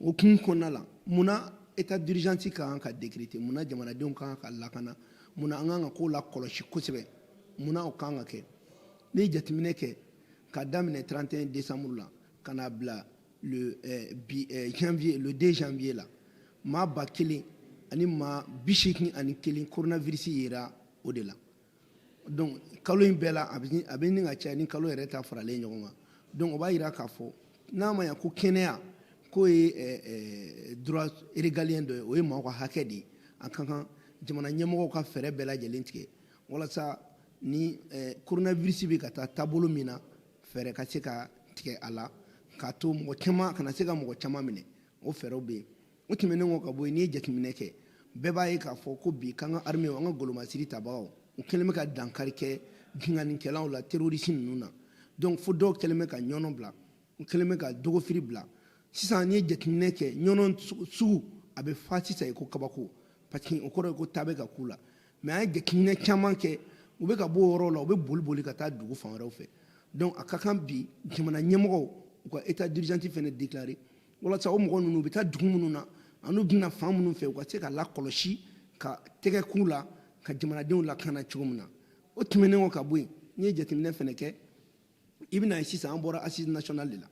o kun kɔnɔna la mun na état d'urgence ka kan ka décréter mun na jamanadenw ka kan ka lakana mun na an kan ka kow lakɔlɔsi kosɛbɛ mun na o ka kan ka kɛ n'i ye jateminɛ kɛ ka daminɛ 31 décembre la ka n'a bila le eh, bi eh, janvier le 2 janvier la maa ba kelen ani maa bi seegin ani kelen coronavirus yera o de la donc kalo in bɛɛ la a bɛ ɲini ka caya ni kalo yɛrɛ ta faralen ɲɔgɔn kan donc o b'a jira k'a fɔ n'a ma ɲa ko kɛnɛyako ye eh, eh, droit régalien dɔ ye o ye maaw ka hakɛ de ye a ka kan jamana ɲɛmɔgɔw ka fɛɛrɛ bɛɛ lajɛlen tigɛ walasa ni eh, coronavirus bɛ ka taa taabolo min na fɛɛrɛ ka se ka tigɛ a la k'a to mɔgɔ caman kana se ka mɔgɔ caman minɛ o fɛɛrɛw bɛ yen o tɛmɛnen kɔ ka bɔ yen n'i ye jateminɛ kɛ bɛɛ b'a ye k'a fɔ ko bi k'an ka armew an ka golomasiri tabagaw u kɛlen bɛ ka dankari kɛ binkannikɛlaw la terorisi ninnu na donc fo dɔw kɛlen bɛ ka ɲɔnɔ bila u kɛlen bɛ ka dogofiri bila sisan n'i ye jateminɛ kɛ ɲɔnɔ sugu a bɛ fa sisan ye ko kabako parce que o kɔrɔ ye ko ta bɛ ka k'u la mais an ye jateminɛ caman kɛ u bɛ ka bɔ o yɔrɔ la u bɛ boli boli ka taa dugu fan wɛrɛw fɛ donc a ka kan bi jamana ɲɛmɔgɔw u ka état d'urgence fana déclarer walasa o mɔgɔ ninnu u bɛ taa dugu minnu na ani u bɛ na fan minnu fɛ u ka se ka lakɔlɔsi ka tɛgɛ k'u la ka jamanadenw lakana cogo min na o tɛmɛnen kɔ ka bɔ yen n'i ye jateminɛ fana kɛ i bɛn'a ye sisan an bɔra assise nationale de la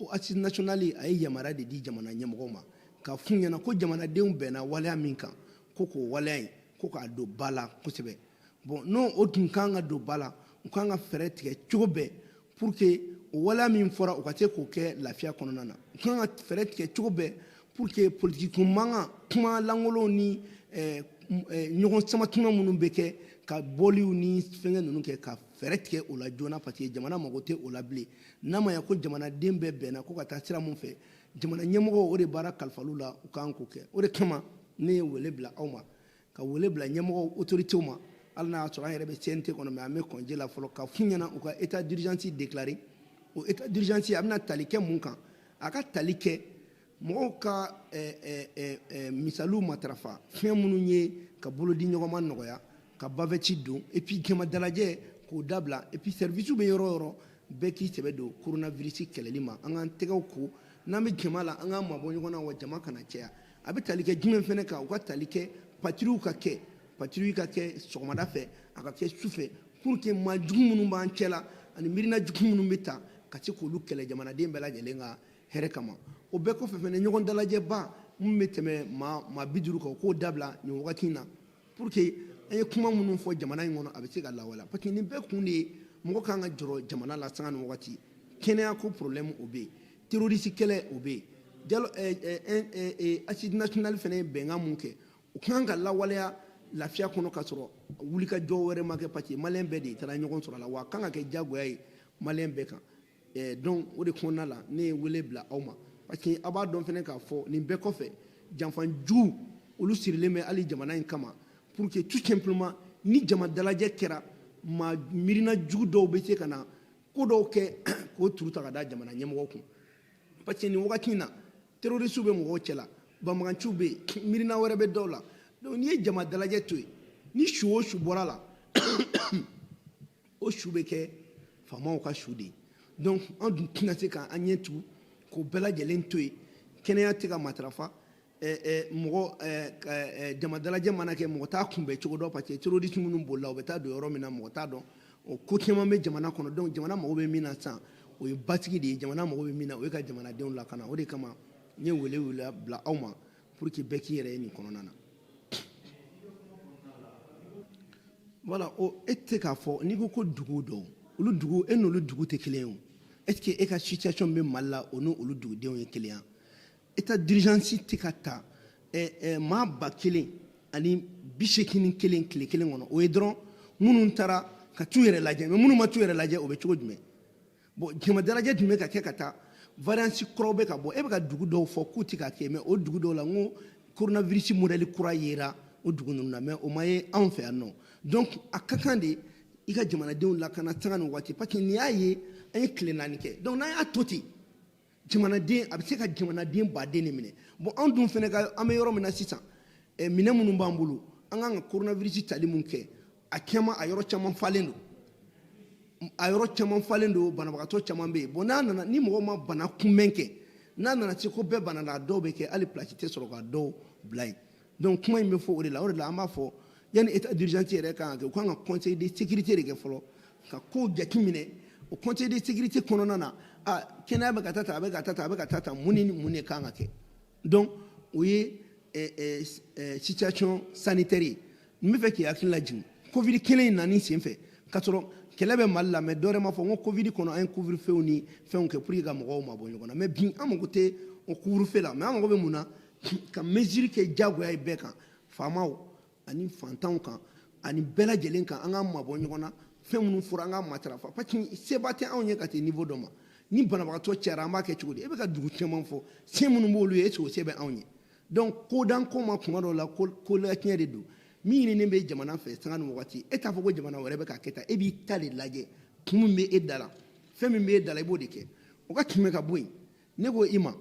o assise nationale a ye yamaruya de di jamana ɲɛmɔgɔw ma ka f'u ɲɛna ko jamanadenw bɛnna waleya min kan ko k'o waleya in ko k'a don ba la kosɛbɛ bon n'o o tun kan ka don ba la u kan ka fɛɛrɛ tigɛ cogo bɛɛ pour que o waleya min fɔra u ka se k'o kɛ lafiya kɔnɔna na u kan ka fɛɛrɛ tigɛ cogo bɛɛ pour que politiki ko mankan kuma lankolonw ni eh, eh, ɲɔgɔn sama tuma minnu bɛ kɛ ka bɔliw ni fɛngɛ ninnu kɛ ka fɛɛrɛ tigɛ o la joona parce que jamana mago tɛ o la bilen n'a ma ya ko jamanaden bɛɛ bɛnna ko ka taa sira mun fɛ jamana ɲɛmɔgɔw o de baara kalifal'u la u kan k'o kɛ o de kama ne ye wele bila aw ma ka wele bila ɲɛmɔgɔw autorités ma hali n'a y'a sɔrɔ an yɛrɛ bɛ CNT kɔnɔ mais an bɛ congé la fɔlɔ ka f'u ɲɛna u ka état d'urgence déclarer o état d'urgence a bɛna tali kɛ mun kan a ka tali kɛ mɔgɔw ka misaliw matarafa fɛn minnu ye ka bolodi ɲɔgɔnma nɔgɔya ka bavette don et puis jama dalajɛ k'o dabila et puis service bɛ yɔrɔ yɔrɔ bɛɛ k'i sɛbɛ don coronavirus kɛlɛli ma an k'an tɛgɛw ko n'an bɛ jama la an k'an mabɔ ɲɔgɔn na wa jama kana caya a bɛ tali kɛ jumɛn fana kan u ka tali kɛ patrouille ka kɛ patrouille ka kɛ sɔgɔmada fɛ a ka kɛ su fɛ pour que maa jugu minnu b'an cɛ la ani miirina jugu minnu bɛ ta ka se k'olu kɛlɛ jamanaden bɛɛ lajɛlen ka hɛrɛ kama o bɛɛ kɔfɛ fana ɲɔgɔn dalajɛba min bɛ tɛmɛ maa maa bi duuru kan o k'o dabila nin wagati in na pour que an ye kuma minnu fɔ jamana in kɔnɔ a bɛ se ka lawaleya parce que nin bɛɛ kun de ye mɔgɔ kan ka jɔrɔ jamana la sanga ni wagati kɛnɛya ko problème o bɛ yen terroriste kɛlɛ o bɛ yen jalo eh, eh, eh, eh, eh, assises nationales fɛnɛ ye bɛnkan mun kɛ o kan ka lawaleya lafiya kɔnɔ ka sɔrɔ wulikajɔ wɛrɛ ma kɛ parce que maliyɛn bɛɛ de taara ɲɔgɔn sɔrɔ a la wa a kan ka kɛ diyagoya ye maliyɛn bɛɛ kan Eh, donc o de kɔnɔna la ne ye wele bila aw ma parce que a b'a dɔn fɛnɛ k'a fɔ nin bɛɛ kɔfɛ janfanjugu olu sirilen bɛ hali jamana in kama pour que tout simplement ni jama dalajɛ kɛra maa miirina jugu dɔw bɛ se ka na ko dɔw kɛ k'o turu ta ka da jamana ɲɛmɔgɔ kun parce que nin wagati in na terorisiw bɛ mɔgɔw cɛla banbaganciw bɛ yen miirina wɛrɛ bɛ dɔw la donc n'i ye jama dalajɛ to yen ni su o su bɔra la o su bɛ kɛ faamaw ka su de ye donc an dun tɛna se k'an ɲɛ tugu k'o bɛɛ lajɛlen to yen kɛnɛya tɛ ka matarafa mɔgɔ jama dalajɛ mana kɛ mɔgɔ t'a kunbɛn cogo dɔn parce que terroriste minnu bolila u bɛ taa don yɔrɔ min na mɔgɔ t'a dɔn o ko caman bɛ jamana kɔnɔ donc jamana mago bɛ min na sisan o ye basigi de ye jamana mago bɛ min na o ye ka jamanadenw lakana o de kama n ye wele wele bila aw ma pour que bɛɛ k'i yɛrɛ ye nin kɔnɔna na voilà o e tɛ k'a fɔ n'i ko ko dugu dɔw olu dugu e n'olu dugu tɛ kelen o est ce que e ka situation bɛ mali la o n'olu dugudenw ye kelen ye état d'urgence tɛ ka ta eh, eh, maa ba kelen ani bi seegin kelen tile kelen kɔnɔ o ye dɔrɔn minnu taara ka t'u yɛrɛ lajɛ mais minnu ma t'u yɛrɛ lajɛ o bɛ cogo jumɛn bon jama dalajɛ tun bɛ ka kɛ ka taa variance kuraw bɛ ka bɔ e bɛ ka dugu dɔw fɔ k'u tɛ ka kɛ mais o dugu dɔw la n ko coronavirus modɛli kura yera o dugu ninnu na mais o ma ye anw fɛ yan nɔ donc a ka kan de i ka jamanadenw lakana sanga ni wagati parce que n'i y'a ye an ye tile naani kɛ donc n'an y'a to ten jamanaden a bɛ se ka jamanaden baden de minɛ bon anw dun fɛnɛ ka an bɛ yɔrɔ min na sisan eh, minɛn minnu b'an bolo an kan ka coronavirus tali mun kɛ a caman a yɔrɔ caman falen don a yɔrɔ caman falen don banabagatɔ caman bɛ yen bon n'a nana ni mɔgɔ ma bana kunbɛn kɛ n'a nana se ko bɛɛ banana a dɔw bɛ kɛ hali pilasi tɛ sɔrɔ ka dɔw bila yen donc kuma in bɛ fɔ o de la o de la an b'a fɔ yanni état d'urgence yɛrɛ kan ka kɛ u kan ka conseil de sécurité de kɛ fɔlɔ ka kow jateminɛ o conseil de sécurité kɔnɔna na a kɛnɛya bɛ ka taa tan a bɛ ka taa tan a bɛ ka taa tan mun ni mun de kan ka kɛ donc o ye situation sanitaire ye n bɛ fɛ k'i hakili lajigin covid kelen in nani sen fɛ k'a sɔrɔ kɛlɛ bɛ mali la mais dɔ wɛrɛ ma fɔ n ko covid kɔnɔ an ye couvre feu ni fɛnw kɛ pour que ka mɔgɔw mabɔ ɲɔgɔn na mais bi an mago tɛ o couvre feu la mais an mago bɛ mun na ka mesure kɛ diyagoya ye bɛɛ kan faamaw ani fantanw kan ani bɛɛ lajɛlen kan an k'an mabɔ ɲɔgɔn na fɛn minnu fɔra an k'a matarafa parce que seba tɛ anw ye ka taa niveau dɔ ma ni banabagatɔ cayara an b'a kɛ cogo di e bɛ ka dugu caman fɔ se minnu b'olu ye est ce que o se bɛ anw ye donc kodan ko ma kuma dɔw la kolatiɲɛ de don min ɲininen bɛ jamana fɛ sanga ni wagati e t'a fɔ ko jamana wɛrɛ bɛ k'a kɛ tan e b'i ta de lajɛ kun min bɛ e da la fɛn min bɛ e da la i b'o de kɛ o ka tɛmɛ ka bɔ yen ne ko i ma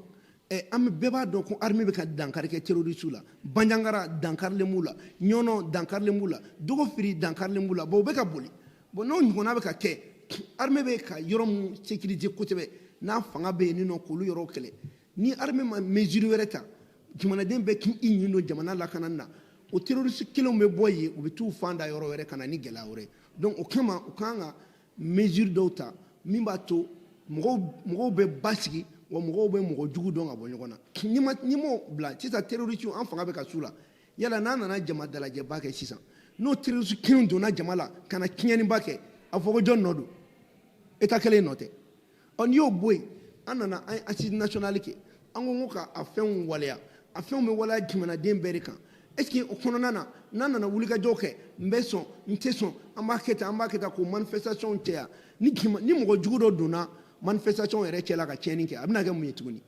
eh, an bɛɛ b'a dɔn ko armée bɛ ka dankari kɛ terrorisiw la banjagara dankarilen b'u la ɲɔnɔ dankarilen b'u la dogofiri dankarilen b'u la bon u bɛ ka boli bon n'o ɲɔgɔnna bɛ ka kɛ armée bɛ ka yɔrɔ min sécuriser kosɛbɛ n'a fanga bɛ yen nɔ k'olu yɔrɔw kɛlɛ ni armée ma mesure wɛrɛ ta jamanaden bɛɛ k'i ɲin don jamana lakanani na o terroriste kelenw bɛ bɔ yen u bɛ t'u fan da yɔrɔ wɛrɛ ka na ni gɛlɛya wɛrɛ donc o kama u kan ka mesure dɔw ta min b'a to mɔgɔw mɔgɔw bɛ basigi wa mɔgɔw bɛ mɔgɔ jugu dɔn ka bɔ ɲɔgɔn na n'i ma n'i m'o bila sisan terrorisiw an fanga bɛ ka s'u la yala n'a nana jama dalajɛba kɛ sisan n'o terrorisi kelenw donna jama la ka na tiɲɛniba kɛ a fɔ ko jɔn nɔ don état kelen nɔ tɛ ɔ n'i y'o bɔ yen an nana an ye asisi nasiyɔnali kɛ an ko n ko ka a fɛnw waleya a fɛnw bɛ waleya jamanaden bɛɛ de kan est ce que o kɔnɔna na n'an nana wulikajɔw kɛ n bɛ sɔn n tɛ sɔn an b'a kɛ tan an b'a kɛ tan k'o manifestation caya ni mɔgɔ jugu dɔ donna manifestation yɛrɛ cɛla ka tiɲɛni kɛ a bɛna kɛ mun ye tuguni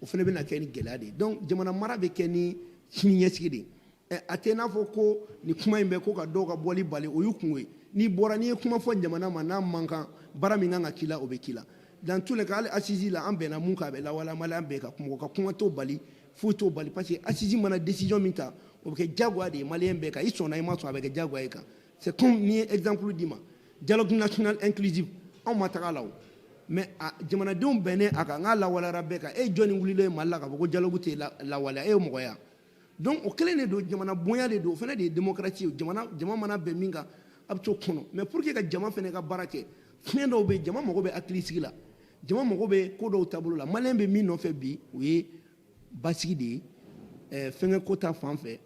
o fana bɛna kɛ ni gɛlɛya de ye donc jamana mara bɛ kɛ ni siniɲɛsigi de ye eh, a tɛ n'a fɔ ko nin kuma in bɛ ko ka dɔw ka bɔli bali o y'u kungo ye n'i bɔra n'i ye kuma fɔ jamana ma n'a man kan baara min kan ka k'i la o bɛ k'i la dans tous les cas hali asisi la an bɛnna mun kan a bɛ lawaleya maliyɛn bɛɛ kan mɔgɔ ka kuma t'o bali foyi t'o bali parce que asisi mana décision min ta o bɛ kɛ diyagoya de ye maliyɛn bɛɛ kan i sɔnna i ma sɔn a bɛ kɛ diyagoya y'i kan c'est comme n'i ye exemple d'i ma dialogue national inclusif anw ma taga a la o mais a jamanadenw bɛnnen a kan n k'a lawaleyara bɛɛ kan e jɔni wulilen ye mali la k'a fɔ ko dialogue tɛ lawaleya e ye mɔgɔ ye wa donc o kelen de don jamana bonya de don o fana de ye démocratie ye jamana jama mana bɛn min kan a bɛ t'o kɔnɔ mais pour que ka jama fana ka baara kɛ fiɲɛ dɔw bɛ yen jama mago bɛ hakilisigi la jama mago bɛ ko dɔw taabolo la maliyɛn bɛ min nɔfɛ bi o ye basigi de ye ɛɛ fɛnkɛ ko ta fan fɛ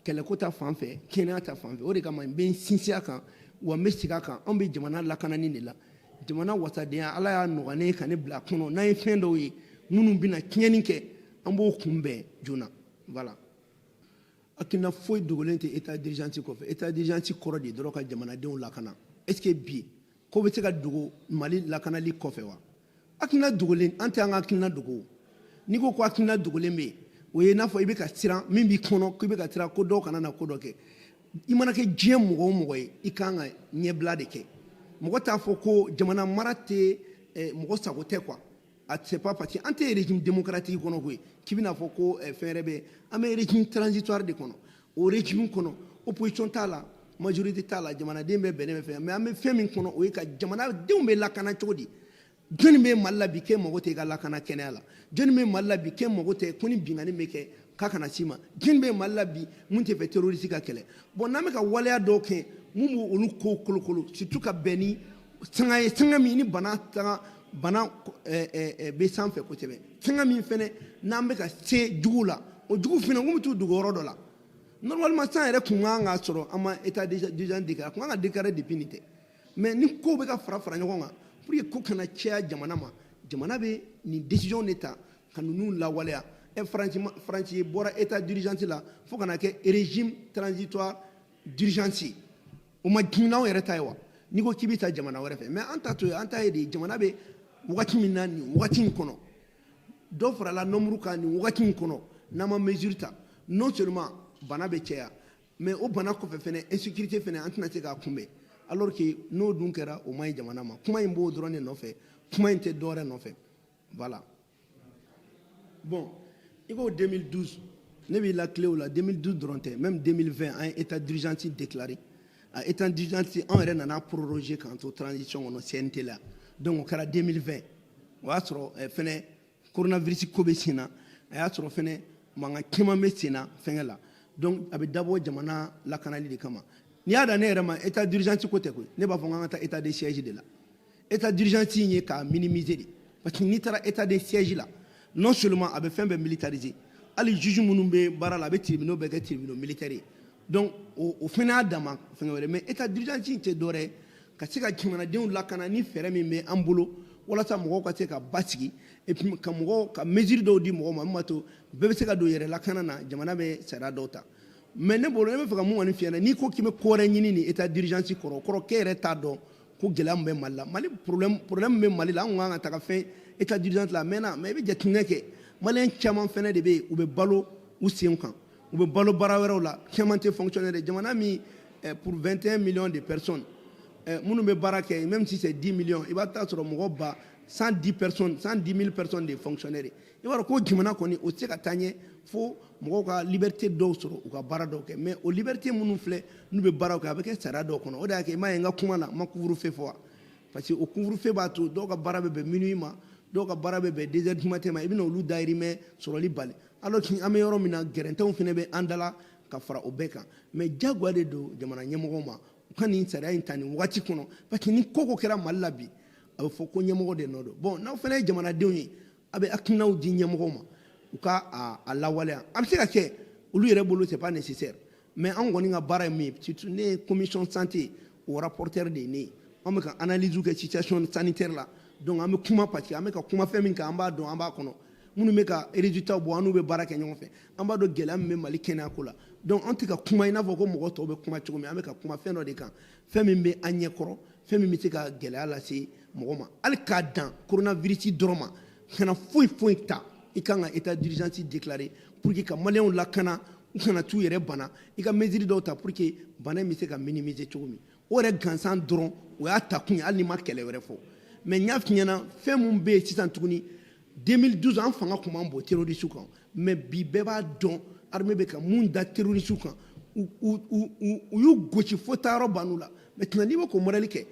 kɛlɛko ta fan fɛ kɛnɛya ta fan fɛ o de kama n bɛ n sinsin a kan wa n bɛ segin a kan anw bɛ jamana lakanani de la jamana wasadenya ala y'a nɔgɔya ne ye ka ne bila a kɔnɔ n'an ye fɛn dɔw ye minnu bɛna tiɲɛni kɛ an b'o kunbɛn joona voilà hakilina foyi dogolen tɛ état d'urgence kɔfɛ état d'urgence kɔrɔ de dɔrɔn ka jamanadenw lakana est ce que bi ko bɛ se ka dogo mali lakanali kɔfɛ wa hakilina dogolen an tɛ an ka hakilina dogo n'i ko ko hakilina dogolen bɛ yen o ye n'a fɔ i bɛ ka siran min b'i kɔnɔ k'i bɛ ka siran ko dɔw kana na ko dɔ kɛ i mana kɛ diɲɛ mɔgɔ o mɔgɔ ye i kan ka ɲɛbila de kɛ mɔgɔ t'a fɔ ko jamana mara tɛ eh, mɔgɔ sago tɛ quoi a c'est pas parce que an tɛ régime démocratique kɔnɔ koyi k'i bɛna fɔ ko eh, fɛn wɛrɛ bɛ an bɛ régime transitoire de kɔnɔ o régime kɔnɔ opposition t'a la majorité t'a la jamanaden bɛɛ bɛnnen bɛ fɛn mais an bɛ fɛn min kɔnɔ o ye ka jamanadenw bɛ lakana cogo di jɔnni bɛ mali la bi k'e mago tɛ i ka lakana kɛnɛya la jɔnni bɛ mali la bi k'e mago tɛ ko ni binkanni bɛ kɛ k'a kana s'i ma jɔnni bɛ mali la bi mun tɛ fɛ terroriste ka kɛlɛ bon n'an bɛ ka waleya dɔw kɛ mun bɛ olu kow kolokolo surtout ka bɛn ni sanga ye sanga min ni bana sanga bana eh, eh, eh, bɛ sanfɛ kosɛbɛ sanga min fana n'an bɛ ka se jugu la o jugu fana n ko bɛ t'u dogo yɔrɔ dɔ la normalement san yɛrɛ kun kan ka sɔrɔ an ma état d'urgence déclaré a kun kan ka déclarer depuis nin tɛ mais ni kow bɛ ka fara fara ɲɔgɔn kan pour que ko kana caya jamana ma jamana bɛ nin décision de ta ka ninnu lawaleya ɛ faransi faransi bɔra état d'urgence la fo ka na kɛ régime transitoire d'urgence ye o man jugu n'anw yɛrɛ ta ye wa n'i ko k'i bɛ taa jamana wɛrɛ fɛ mais an ta to ye an ta ye de jamana bɛ wagati min na nin wagati in kɔnɔ dɔ farala nombre kan nin wagati in kɔnɔ n'an ma mesure ta non seulement bana bɛ caya mais o bana kɔfɛ fɛnɛ insécurité fɛnɛ an tɛna se k'a kunbɛn alors que n'o dun kɛra o man ɲi jamana ma kuma in b'o dɔrɔn de nɔfɛ kuma in tɛ dɔwɛrɛ nɔfɛ voilà bon i ko 2012 ne b'i latilen o la 2012 dɔrɔn tɛ même 2020 an ye état d'urgence déclaré a état d'urgence an yɛrɛ nana proroger k'an to transition kɔnɔ CNT la donc o kɛra 2020 o y'a sɔrɔ eh, fɛnɛ coronavirus ko bɛ sen na a y'a sɔrɔ fɛnɛ mankan caman bɛ sen na fɛngɛ la donc a bɛ dabɔ jamana lakanali de kama n'i y'a da ne yɛrɛ ma état d'urgence ko tɛ koyi ne b'a fɔ n k'an ka taa état de siège de la État d'urgence in ye k'a minimiser de parce que n'i taara état de siège la non seulement a bɛ fɛn bɛɛ militariser hali juge minnu bɛ baara la a bɛ tribunaux bɛɛ kɛ tribunaux militaires ye donc o o fana y'a dama fɛngɛ wɛrɛ mais état d'urgence in tɛ dɔwɛrɛ ye ka se ka jamanadenw lakana ni fɛɛrɛ min bɛ an bolo walasa mɔgɔw ka se ka basigi et puis ka mɔgɔw ka mesure dɔw di mɔgɔw ma min b'a to bɛɛ bɛ se ka don yɛrɛ lakana na jamana bɛ sariya dɔw ta mais ne bolo ne bɛ fɛ ka mun kɔni f'i ɲɛna n'i ko k'i bɛ ko wɛrɛ ɲini nin état d'urgence kɔrɔ o kɔrɔ k'e yɛrɛ t'a dɔn ko gɛlɛya min bɛ mali la mali problème problème min bɛ mali la an kan ka taga fɛn état d'urgence la a mɛnna mais i bɛ jateminɛ kɛ maliyɛn caman fɛnɛ de bɛ yen u bɛ balo u sen kan u bɛ balo baara wɛrɛw la caman tɛ fonctionnaire de jamana min eh, pour 21 millions de personnes eh, minnu bɛ baara kɛ même si c'est 10 millions i b'a taa sɔrɔ mɔgɔ ba 110 personnes 110 000 personnes de fonctionnaires i b'a dɔn ko jamana kɔni o tɛ se ka taa ɲɛ fo mɔgɔw ka liberté dɔw sɔrɔ u ka baara dɔw kɛ mais o liberté minnu filɛ n'u bɛ baaraw kɛ a bɛ kɛ sariya dɔw kɔnɔ o de y'a kɛ i m'a ye n ka kuma na n ma couvre-feu fɔ wa parce que o couvre-feu b'a to dɔw ka baara bɛ bɛn minuit ma dɔw ka baara bɛ bɛn deux heures du matin ma i bɛna olu dayirimɛ sɔrɔli bali alors que an bɛ yɔrɔ min na gɛrɛntɛw fana bɛ an dala ka fara o bɛɛ kan mais jagoya de don jamana ɲɛmɔgɔw ma u ka nin sariya in ta nin wagati kɔnɔ parce que ni ko ko kɛra Mali la bi a bɛ fɔ ko ɲɛmɔgɔ de nɔ don bon n'aw fana ye jamanadenw ye a bɛ hakilinaw di ɲɛmɔgɔw ma u ka a lawaleya a bɛ se ka kɛ olu yɛrɛ bolo c'est pas nécessaire mais an kɔni ka baara ye min ye surtout ne ye commission santé o rapporteur de ye ne ye an bɛ ka analyse kɛ situation sanitaire la donc an bɛ kuma parce que an bɛ ka kuma fɛn min kan an b'a dɔn an b'a kɔnɔ minnu bɛ ka résultat bɔ an n'u bɛ baara kɛ ɲɔgɔn fɛ an b'a dɔn gɛlɛya min bɛ Mali kɛnɛyako la donc an tɛ ka kuma i n'a fɔ ko mɔgɔ tɔw bɛ kuma cogo min an bɛ ka kuma fɛn dɔ de kan fɛn min bɛ an ɲɛkɔrɔ fɛn min bɛ se ka gɛlɛya lase mɔgɔ ma hali k'a dan coronavirus dɔrɔn ma kana foyi foyi ta i kan ka état d'urgence déclarer pour que ka maliyɛnw lakana u kana t'u yɛrɛ bana i ka mesure dɔw ta pour que bana in bɛ se ka minimiser cogo min o yɛrɛ gansan dɔrɔn o y'a ta kun ye hali n'i ma kɛlɛ wɛrɛ fɔ mais n y'a f'i ɲɛna fɛn min bɛ yen sisan tuguni 2012 an fanga tun man bon terrorisiw kan mais bi bɛɛ b'a dɔn armée bɛ ka mun da terrorisiw kan u y'u gosi fo taayɔrɔ ban'u la maintenant n'i bɛ k'o modèle kɛ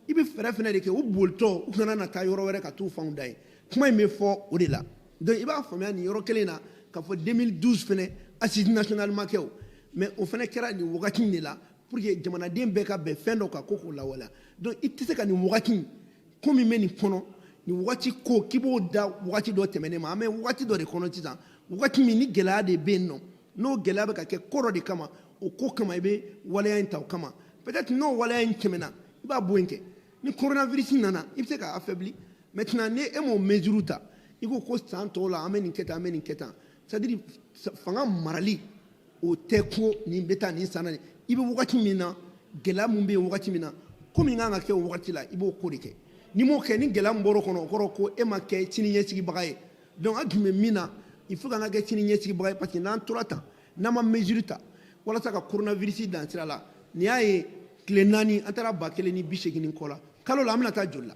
i bɛ fɛɛrɛ fɛnɛ de kɛ u bolitɔ u kana na taa yɔrɔ wɛrɛ ka t'u fanw da yen kuma in bɛ fɔ o de la donc i b'a faamuya nin yɔrɔ kelen na k'a fɔ 2012 fɛnɛ assise nationale ma kɛ o mais o fɛnɛ kɛra nin wagati in de la pour que jamanaden bɛɛ ka bɛn fɛn dɔ kan ko k'o lawaleya donc i tɛ se ka nin wagati in ko min bɛ nin kɔnɔ nin wagati ko k'i b'o da wagati dɔ tɛmɛnen ma an bɛ wagati dɔ de kɔnɔ sisan wagati min ni gɛlɛya de bɛ yen nɔ n'o gɛlɛya bɛ ka kɛ ko dɔ de kama o ko kama i bɛ waleya in ta o kama peut-être n'o waleya in tɛmɛna i b'a bɔ yen kɛ ni coronavirus nana i bɛ se k'a affaibli maintenant ni e m'o mesure ta i ko ko san tɔw la an bɛ nin kɛ tan an bɛ nin kɛ tan c'est à dire fanga marali o tɛ ko nin bɛ taa nin san na i bɛ wagati min na gɛlɛya min bɛ yen wagati min na ko min kan ka kɛ o wagati la i b'o ko de kɛ n'i m'o kɛ ni gɛlɛya min bɔr'o kɔnɔ o kɔrɔ ko e ma kɛ sini ɲɛsigibaga ye donc an tun bɛ min na il faut k'an ka kɛ sini ɲɛsigibaga ye parce que n'an tora tan n'an ma mesure ta walasa ka coronavirus dan sira la n'i y'a ye tile naani an taara ba kelen ni bi seegin ni kɔ la kalo la an bɛna taa joli la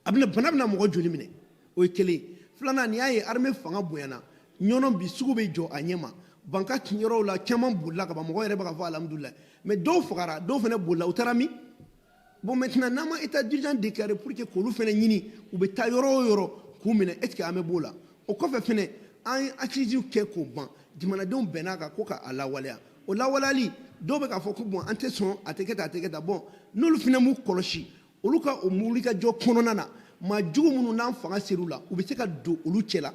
a bɛna bana bɛna mɔgɔ joli minɛ o ye kelen filanan n'i y'a ye armée fanga bonyana Ɲɔnɔ bi sugu bɛ jɔ a ɲɛma Banka yɔrɔw la caman bolila ka ban mɔgɔ yɛrɛ bɛ k'a fɔ alhamdulilayi mais dɔw fagara dɔw fana bolila u taara min bon maintenant n'an ma état d'urgence déclaré pour que k'olu fana ɲini u bɛ taa yɔrɔ o yɔrɔ k'u minɛ est ce que an bɛ b'o la o kɔfɛ fana an ye assise kɛ k'o ban jamanadenw bɛnna a kan ko ka a lawaleya o lawaleyali dɔw bɛ k'a fɔ ko bon an tɛ sɔn a tɛ kɛ tan a tɛ kɛ tan bon n'olu fana m'u kɔlɔsi olu ka o wulikajɔ kɔnɔna na maa jugu minnu n'an fanga ser'u la u bɛ se ka don olu cɛla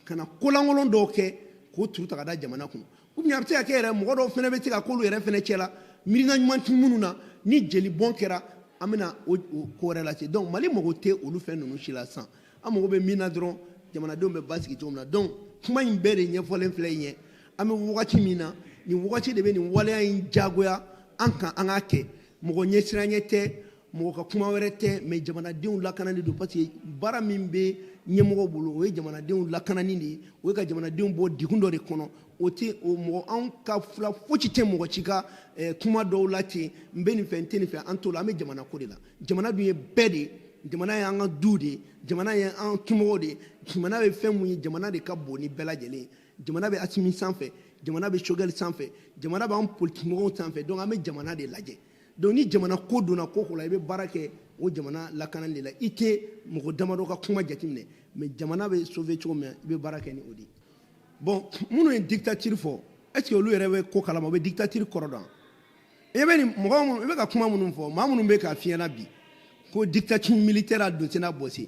ka na kolankolon dɔw kɛ k'o turu ta ka da jamana kun ou bien a bɛ se ka kɛ yɛrɛ mɔgɔ dɔw fana bɛ se ka k'olu yɛrɛ fana cɛla miirina ɲuman tɛ minnu na ni jeli bɔn kɛra an bɛna o ko wɛrɛ lase donc mali mago tɛ olu fɛn ninnu si la sisan an mago bɛ min na dɔrɔn jamanadenw bɛ basigi cogo min na donc kuma in bɛɛ de ɲɛfɔlen filɛ in ye an bɛ wagati min na nin wagati de bɛ nin waleya in jagoya an kan an k'a kɛ mɔgɔ ɲɛsiranɲɛ tɛ mɔgɔ ka kuma wɛrɛ tɛ mais jamanadenw lakanani don parce que baara min bɛ ɲɛmɔgɔ bolo o ye jamanadenw lakanani de ye o ye ka jamanadenw bɔ degun dɔ de kɔnɔ o tɛ o mɔgɔ anw ka fila fosi tɛ mɔgɔ si ka eh, kuma dɔw la ten n bɛ nin fɛ n tɛ nin fɛ an t'o la an bɛ jamana ko de la jamana dun ye bɛɛ de ye jamana ye an ka du de ye jamana ye an dumɔgɔw de ye jamana bɛ fɛn mun ye jamana de ka bon ni bɛɛ lajɛlen ye jamana bɛ asimi sanfɛ jamana bɛ sogɛli sanfɛ jamana b'an politikimɔgɔw sanfɛ donc an bɛ jamana de lajɛ donc ni jamana ko donna ko o ko la i bɛ baara kɛ o jamana lakanani de la i tɛ mɔgɔ damadɔ ka kuma jateminɛ mais jamana bɛ sauver cogo min i bɛ baara kɛ ni o de ye bon minnu ye dictature fɔ est ce que olu yɛrɛ bɛ ko kalama u bɛ dictature kɔrɔ dɔn i bɛ nin mɔgɔ minnu i bɛ ka kuma minnu fɔ maa minnu bɛ k'a f'i ɲɛna bi ko dictature militaire a don tɛna bɔse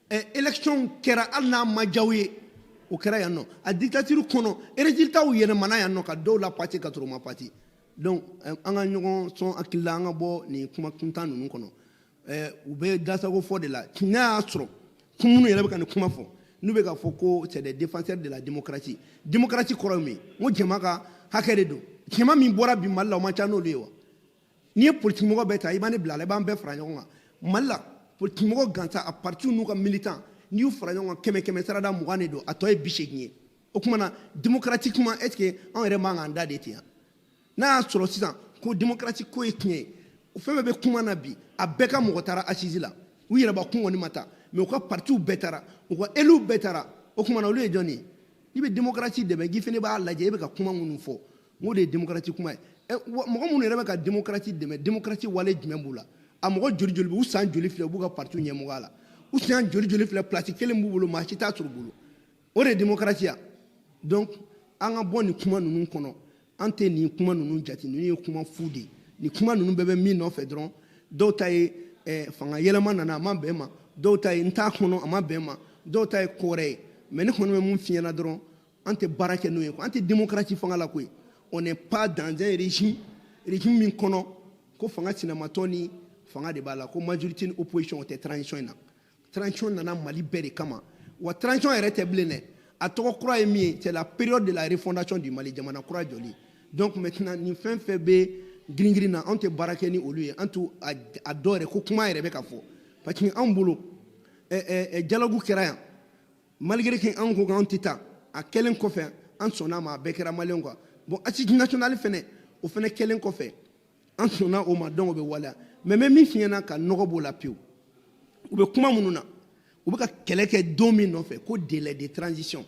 élection kɛra hali n'a ma diya u ye o kɛra yan nɔ a dictature kɔnɔ résultatw yɛlɛmana yan nɔ ka dɔw la passer ka sɔrɔ u ma passer donc an ka ɲɔgɔn sɔn hakili la an ka bɔ nin kuma kuntan ninnu kɔnɔ u bɛ dasago fɔ de la n'a y'a sɔrɔ ko minnu yɛrɛ bɛ ka nin kuma fɔ n'u bɛ k'a fɔ ko c'est des défenseurs de la démocratie démocratie kɔrɔ min ko jama ka hakɛ de don jama min bɔra bi mali la o ma ca n'olu ye wa n'i ye politikimɔgɔ bɛɛ ta i bɛ ne bila a la i b'an bɛɛ fara ɲɔgɔn kan mali la politikimɔgɔ gansan a partiw n'u ka militant n'i y'u fara ɲɔgɔn kan kɛmɛ kɛmɛ sarada mugan de don a tɔ ye bi seegin ye o tuma na démocratiquement est ce que anw yɛrɛ man k'an da de ten yan n'a y'a sɔrɔ sisan ko demokarasi ko ye tiɲɛ ye fɛn bɛɛ bɛ kuma na bi a bɛɛ ka mɔgɔ taara assises la u yɛrɛbakun kɔni ma taa mais u ka partiw bɛɛ taara u ka éluw bɛɛ taara o tuma na olu ye jɔni ye n'i bɛ demokarasi dɛmɛ k'i fana b'a lajɛ e bɛ ka kuma minnu fɔ n ko de ye demokarasi kuma ye eh, mɔgɔ minnu yɛrɛ bɛ ka demokarasi dɛmɛ demokarasi wale jumɛn b'u la a mɔgɔ joli joli bɛ u san joli filɛ u b'u ka parti ɲɛmɔgɔya la u san joli joli filɛ place kelen b'u bolo maa si t'a sɔrɔ u bolo o de ye demokarasi ya donc an ka bɔ nin kuma ninnu kɔnɔ an tɛ nin kuma ninnu jate ninnu ye kuma fu de ye nin kuma ninnu bɛɛ bɛ min nɔfɛ dɔrɔn dɔw ta ye eh, fanga yɛlɛma nana a ma bɛn ma dɔw ta ye n t'a kɔnɔ a ma bɛn ma dɔw ta ye ko wɛrɛ ye mais ne kɔni bɛ min f'i ɲɛna dɔrɔn an tɛ baara kɛ n'o ye an tɛ démocratie fanga la koyi on n'est pas dans un régime régime min kɔnɔ ko fanga sinamatɔ ni fanga de b'a la ko majorité ni opposition o tɛ transition in na transition nana Mali bɛɛ de kama wa transition yɛrɛ tɛ bilen dɛ a tɔgɔ kura ye min ye c'est la période de la refondation du Mali jamana kura jɔli donc maintenant nin fɛn fɛn bɛ giringirin na anw tɛ baara kɛ ni olu ye an t'a dɔn yɛrɛ ko kuma yɛrɛ bɛ ka fɔ parce que anw bolo dialogue kɛra yan malgré que an ko k'an tɛ taa a kɛlen kɔfɛ an sɔnna a ma a bɛɛ kɛra maliyɛnw quoi bon assise nationale fɛnɛ o fɛnɛ kɛlen kɔfɛ an sɔnna o ma donc o bɛ waleya mais n bɛ min f'i ɲɛna ka nɔgɔ b'o la pewu u bɛ kuma minnu na u bɛ ka kɛlɛ kɛ don min nɔfɛ ko délai de transition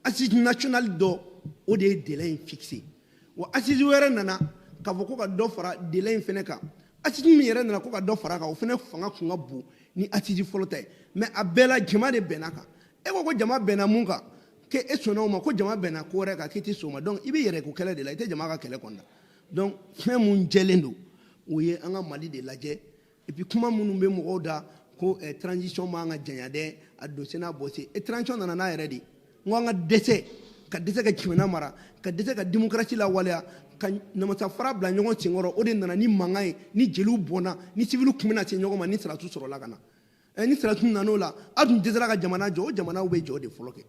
assise nationale dɔ o de ye délai in fixé wa assise wɛrɛ nana k'a fɔ ko ka dɔ fara delai in fɛnɛ kan assise min yɛrɛ nana ko ka dɔ fara kan o fɛnɛ fanga kun ka bon ni assise fɔlɔ ta ye mais a bɛɛ la jama de bɛnna kan e ko ko jama bɛnna mun kan k'e sɔnna o ma ko jama bɛnna ko wɛrɛ kan k'i tɛ sɔn o ma donc i b'i yɛrɛ ko kɛlɛ de la i tɛ jama ka kɛlɛ kɔni na donc fɛn mun jɛlen don o ye an ka Mali de lajɛ Et puis kuma minnu bɛ mɔgɔw da ko eh, transition man ka janya dɛ a don sen n'a bɔ sen e transition nana n'a yɛrɛ de n ko an ka dɛsɛ ka dɛsɛ ka jamana mara ka dɛsɛ ka démocratie lawaleya ka namasa fara bila ɲɔgɔn senkɔrɔ o de nana ni mankan ye ni jeliw bɔnna ni siviliw tun bɛna se ɲɔgɔn ma ni sɔrɔdasiw sɔrɔla ka na eh, ni sɔrɔdasiw nan'o la a tun dɛsɛra ka jamana jɔ o jamanaw bɛ jɔ de fɔlɔ kɛ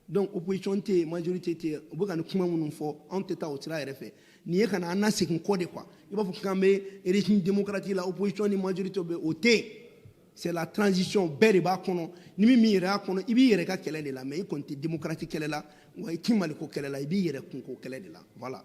donc opposition tɛ yen majorité tɛ yen u bɛ ka nin kuma minnu fɔ anw tɛ taa o sira yɛrɛ fɛ nin ye ka na an nasegin kɔ de quoi i b'a fɔ k'an bɛ régime démocratique la opposition ni majorité bɛ o tɛ yen c'est la transition bɛɛ de b'a kɔnɔ ni min min yɛrɛ y'a kɔnɔ i b'i yɛrɛ ka kɛlɛ de la mais i kɔni tɛ démocratie kɛlɛ la wa i tɛ Maliko kɛlɛ la i b'i yɛrɛ kunko kɛlɛ de la voilà